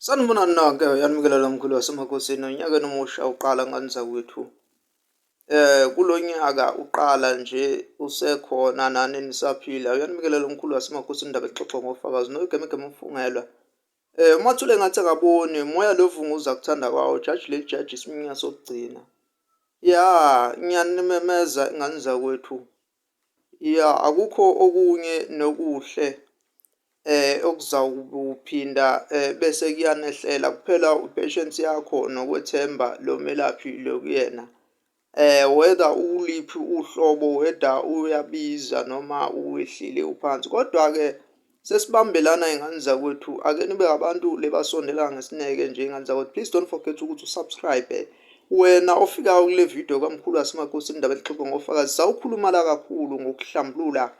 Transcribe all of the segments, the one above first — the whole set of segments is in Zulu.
Sanibonani-ke yanimukelala mkhulu wasemakosini onyakeni omusha uqala ngani zakwethu eh kulo nyaka uqala nje usekhona nani nisaphila uyanimukelala umkhulu wasemakosini indaba exoxwa ngofakazi noyigemegeme umfungelwa eh umathule ngathi akaboni moya lovunguza kuthanda kwawo jaji leli jaji isimunya sokugcina ya ngiyanimemeza ingane zakwethu Ya akukho okunye nokuhle okuzawukuphinda bese kuyanehlela kuphela u-patience yakho nokwethemba lo melaphi lo kuyena. Whether ukuliphi uhlobo whether uyabiza noma uwehlile uphansi, kodwa-ke. Sesibambelana ingane zakwethu ake nibe abantu lebasondela ngesineke nje ingane zakwethu please don't forget ukuthi usubscribe wena ofikayo kule video kamkhulu asimakhosi indaba elixoxo ngofakazi sawukhuluma la kakhulu ngokuhlambulula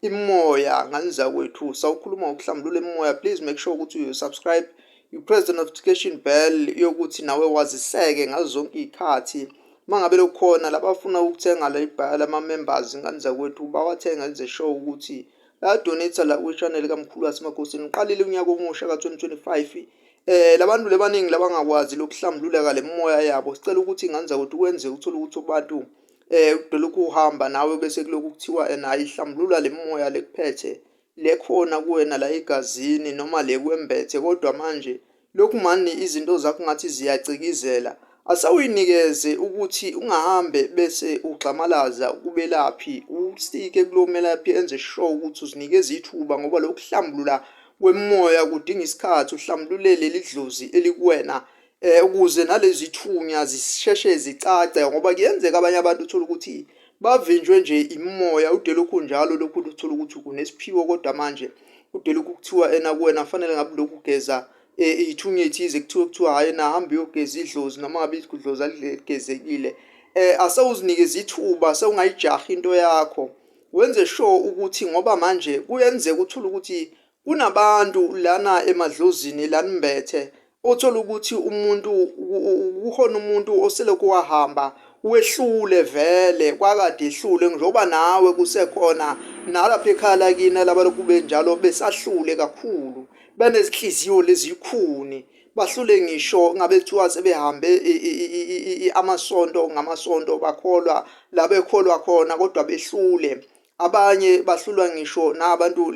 imoya ngane zakwethu sawukhuluma ngokuhlambulula imoya please make sure ukuthi you subscribe you press the notification bell yokuthi nawe waziseke ngazo zonke iy'khathi mangabe lokhona labafuna ukuthenga la ibhala ama-members ingane zakwethu bawathenga enze show ukuthi Donate la kwi-channel kaMkhulu waseMakhosini uqalile unyaka omusha ka-2025 eh labantu lebaningi labangakwazi lokuhlambululeka lemoya yabo sicela ukuthi ingane zakwethu kwenze uthole ukuthi abantu eh udolokhu uhamba nawe bese kulokhu kuthiwa ena ayihlambulula lemoya lekuphethe lekhona kuwena la egazini noma lekuwembethe kodwa manje Lokhu mani izinto zakho ngathi ziyacikizela. Asa uyinikeze ukuthi ungahambe bese ugxamalaza kubelaphi. Usike kulo melaphi enze sure ukuthi uzinikeza ithuba ngoba lokuhlambulula kwemoya kudinga isikhathi uhlambulule leli dlozi elikuwena eh ukuze nalezi thunya zisheshe zicace ngoba kuyenzeka abanye abantu uthola ukuthi Bavinjwe nje imimoya ude lokhu njalo lokhu luthola ukuthi unesiphiwo kodwa manje ude lokhu kuthiwa ena kuwena kufanele ngabe lokhu geza e, iyithunya ethize kuthiwe kuthiwa hhayi na hambe uyogeza idlozi noma ngabe idlozi aligezekile um eh, asewuzinikeza ithuba sewungayijaha into yakho wenze sure ukuthi ngoba manje kuyenzeka uthule ukuthi Kunabantu lana emadlozini lanimbethe othola ukuthi umuntu kukhona umuntu oselokhu wahamba wehlule vele kwakade ehlule njengoba nawe kusekhona nalapha ekhaya lakini labalokhu benjalo besahlule kakhulu benezinhliziyo lezikhuni bahlule ngisho ngabe kuthiwa sebehambe amasonto ngamasonto bakholwa la bekholwa khona kodwa behlule abanye bahlulwa ngisho nabantu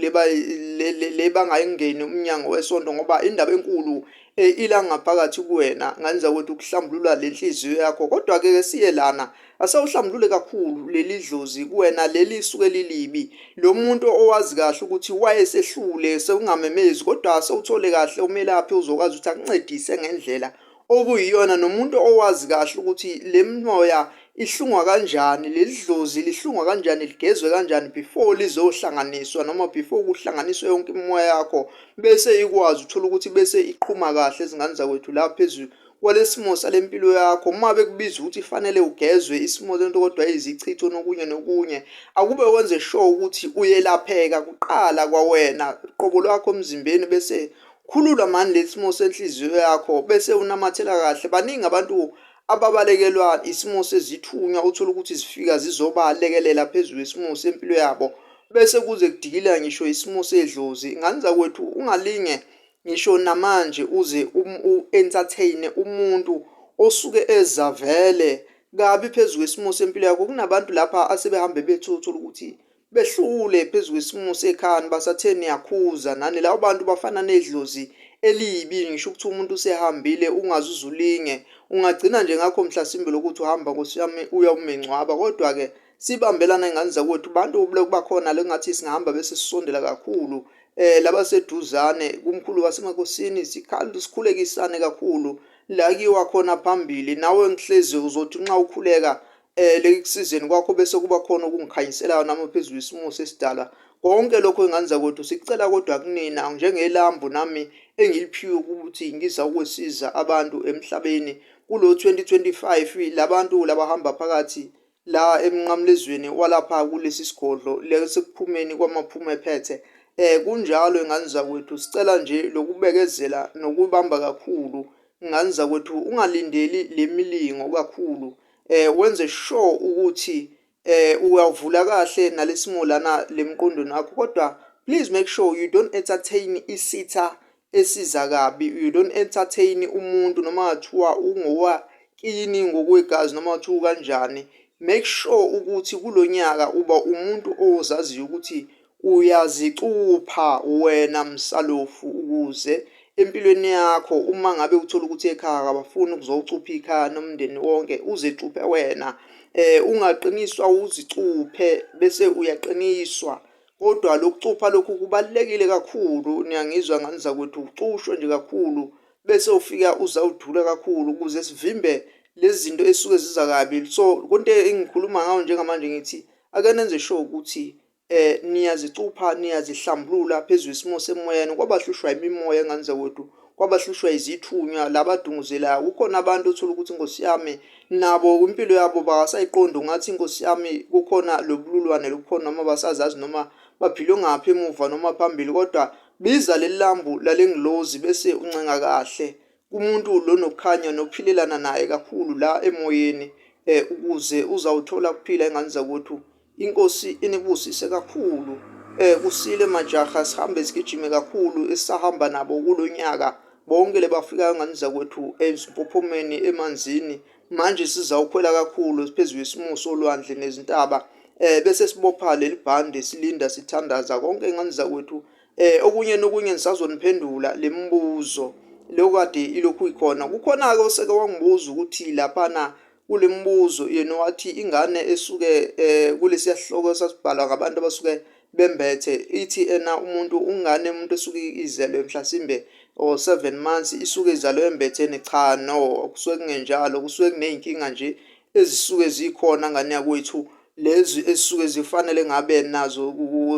le bangayingeni umnyango wesonto ngoba indaba enkulu eh, ila ngaphakathi kuwena ngenza ukuthi ukuhlambulula le nhliziyo yakho kodwa-ke ke siye lana asewuhlambulule kakhulu leli dlozi kuwena leli suke lilibi lo muntu owazi kahle ukuthi wayesehlule sekungamemezi kodwa sewuthole kahle umelaphi uzokwazi ukuthi akuncedise ngendlela okuyiyona nomuntu owazi kahle ukuthi le moya ihlungwa kanjani leli dlozi lihlungwa kanjani ligezwe kanjani before lizohlanganiswa noma before kuhlanganiswe yonke imimoya yakho bese ikwazi uthola ukuthi bese iqhuma kahle izingane zakwethu la phezulu kwalesimo salempilo yakho uma bekubiza ukuthi fanele ugezwe isimo lento kodwa izichitho nokunye nokunye akube wenze sure ukuthi uyelapheka kuqala kwawena qobo lwakho emzimbeni bese Khulula mani lesimo senhliziyo yakho bese unamathela kahle. Baningi abantu ababalekelwa isimo sezithunywa uthola ukuthi zifika zizobalekelela phezu kwesimo sempilo yabo bese kuze kudikila ngisho isimo sedlozi. Ngani zakwethu ungalinge ngisho namanje uze um, u-entertain umuntu osuke eza vele kabi phezu kwesimo sempilo yakho. Kunabantu lapha asebehambe bethu uthola ukuthi behlule phezu kwesimo sekhani basathe niyakhuza nani labo bantu bafana nedlozi elibi ngisho ukuthi umuntu usehambile ungaze uzulinge ungagcina nje ngakho mhlasimbe lokuthi uhamba nkosi yami uya umengcwaba kodwa-ke sibambelana ingane zakwethu bantu bakhona le ngathi singahamba bese sisondela kakhulu um eh, labaseduzane kumkhulu wasemakosini sikhulekisane kakhulu la kiwa khona phambili nawe ngihlezi uzothi nxa ukhuleka eh leki kusizeni kwakho bese kuba khona okungikhanyiselayo nami phezulu isimo sesidala konke lokho enganza kodwa sicela kodwa kunina njengelambu nami engiliphiwe ukuthi ngiza ukwesiza abantu emhlabeni kulo 2025 labantu labahamba phakathi la emnqamlezweni walapha kulesi sigodlo lesekuphumeni kwamaphuma ephethe eh kunjalo enganza kwethu sicela nje lokubekezela nokubamba kakhulu nganza kwethu ungalindeli lemilingo kakhulu eh wenze sure ukuthi eh uyavula kahle nalesimolana lemqondweni akho kodwa please make sure you don't entertain isitha esiza kabi you don't entertain umuntu noma kuthiwa ungowa kini ngokwegazi noma kuthiwa kanjani make sure ukuthi kulonyaka uba umuntu ozaziyo ukuthi Uyazicupha wena msalofu ukuze empilweni yakho uma ngabe uthola ukuthi ekhaya kabafuni ukuzocupha ikhaya nomndeni wonke uzicuphe wena eh ungaqiniswa uzicuphe bese uyaqiniswa kodwa lokucupha lokhu kubalekile kakhulu niyangizwa ngani zakwethu ucushwe nje kakhulu bese ufika uzawudula kakhulu ukuze sivimbe lezinto esuke ziza kabi so konke engikhuluma ngawo njengamanje ngithi akenenze sure ukuthi eh niyazicupha niyazihlambulula phezulu isimo semoyeni kwabahlushwa imimoya ngane zakwethu kwabahlushwa izithunywa labadunguzelayo kukhona abantu othola ukuthi inkosi yami nabo impilo yabo bakasayiqondi ungathi inkosi yami kukhona lobululwane lobukhona noma basazazi noma baphile ngaphi emuva noma phambili kodwa biza leli lambu lalengilozi bese uncenga kahle kumuntu lo nokukhanya nokuphilelana naye kakhulu la emoyeni eh ukuze uzawuthola ukuphila ingane zakwethu inkosi inibusise kakhulu eh kusile majaha sihambe sigijime kakhulu esahamba nabo kulonyaka bonke lebafikayo ngane zakwethu ezimpophomeni emanzini manje sizawukhwela kakhulu siphezulu isimuso olwandle nezintaba eh bese sibopha lelibhande silinda sithandaza konke ingane zakwethu Eh okunye nokunye nisazoniphendula lemibuzo leyo kade ilokhu ikhona. Kukhona ke oseke wangibuza ukuthi lapha na kulemibuzo yena wathi ingane esuke eh kulesiya sihloko sasibhalwa ngabantu abasuke bembethe ithi ena umuntu ungane umuntu esuke izelwe mhlasimbe or 7 months isuke izalwe embetheni cha no kusuke kungenjalo kusuke kuneyinkinga nje ezisuke zikhona ngane yakwethu lezi ezisuke zifanele ngabe nazo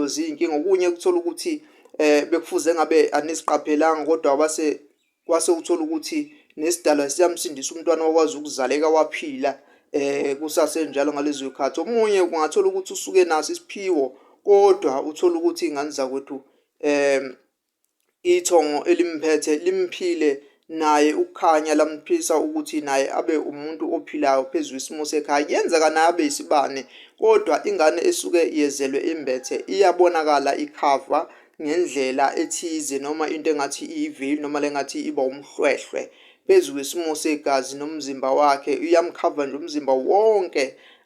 ziyinkinga okunye ukuthola ukuthi eh bekufuze ngabe aniziqaphelanga kodwa wase wase uthola ukuthi nesidalwa siyamsindisa umntwana wakwazi ukuzaleka waphila eh kusasenjalo ngalezo zikhathi omunye kungathola ukuthi usuke naso isiphiwo kodwa uthola ukuthi ingane zakwethu eh Ithongo elimphethe limphile naye uKhanya lamphisa ukuthi naye abe umuntu ophilayo phezu kwesimo sekhaya kuyenzeka naye abe isibane kodwa ingane esuke yezelwe imbethe iyabonakala ikhava ngendlela ethize noma into engathi iyiveyili noma lengathi iba umhlwehlwe phezu kwesimo segazi nomzimba wakhe uyamkhava nje umzimba wonke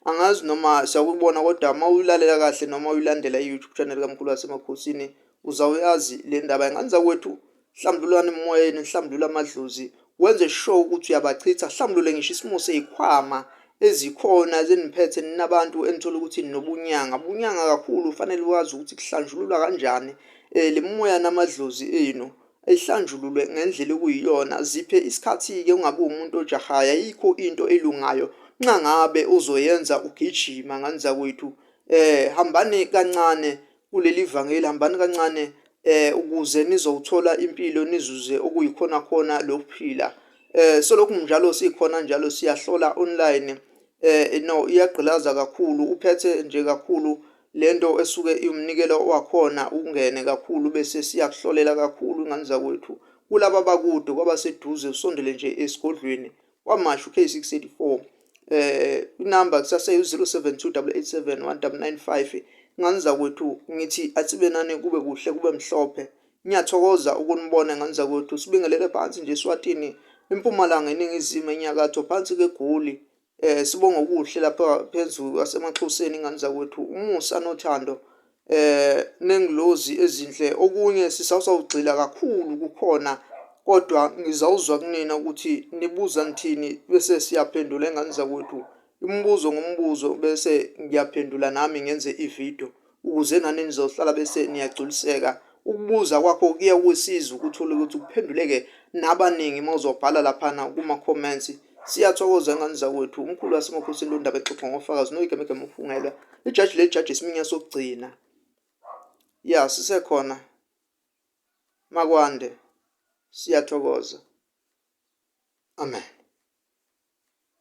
angazi noma siyakubona kodwa uma uyulalela kahle noma uyilandela i-YouTube channel kaMkhulu waseMakhosini Uzawuyazi le ndaba ingane zakwethu hlambululani emoyeni hlambulula amadlozi wenze sure ukuthi uyabachitha hlambulule ngisho isimo seyikhwama ezikhona zeniphethe ninabantu enithola ukuthi ninobunyanga bunyanga kakhulu ufanele wazi ukuthi kuhlanjululwa kanjani um le moya namadlozi enu ayihlanjululwe ngendlela okuyiyona ziphe isikhathi-ke ungabi umuntu ojahaya yikho into elungayo nxa ngabe uzoyenza ugijima ngane zakwethu um hambani kancane kuleli vangeli hambani kancane eh ukuze nizowuthola impilo nizuze okuyikhona khona lokuphila eh solokhu njalo sikhona njalo siyahlola online eh no iyagqilaza kakhulu uphethe nje kakhulu lento esuke iwumnikelo wakhona ungene kakhulu bese siyakuhlolela kakhulu ingane zakwethu kulaba bakude kwabaseduze usondele nje esigodlweni KwaMashu K684 eh inamba kusaseyu 0728871995 nganza kwethu ngithi asibe nani kube kuhle kube mhlophe ngiyathokoza ukunibona nganza kwethu sibingelele phansi nje swatini impumalanga eningizimu enyakatho phansi kegoli eh sibonga okuhle lapha phezulu asemaxhoseni nganza kwethu umusa nothando eh nengilozi ezinhle okunye sisazawugxila kakhulu kukhona kodwa ngizawuzwa kunina ukuthi nibuza ngithini bese siyaphendula engane zakwethu imibuzo ngombuzo bese ngiyaphendula nami ngenze ividiyo ukuze nani nizohlala bese niyagculiseka ukubuza kwakho kuye kusiza ukuthole ukuthi kuphenduleke nabaningi uma uzobhala laphana kuma-comments Siyathokoza ngani zakwethu. Umkhulu waseMakhosini londaba exoxa ngofakazi noyigemegeme ufungelwa. Ijaji lejaji isiminya sokugcina. Ya sisekhona. Makwande. Siyathokoza. Amen.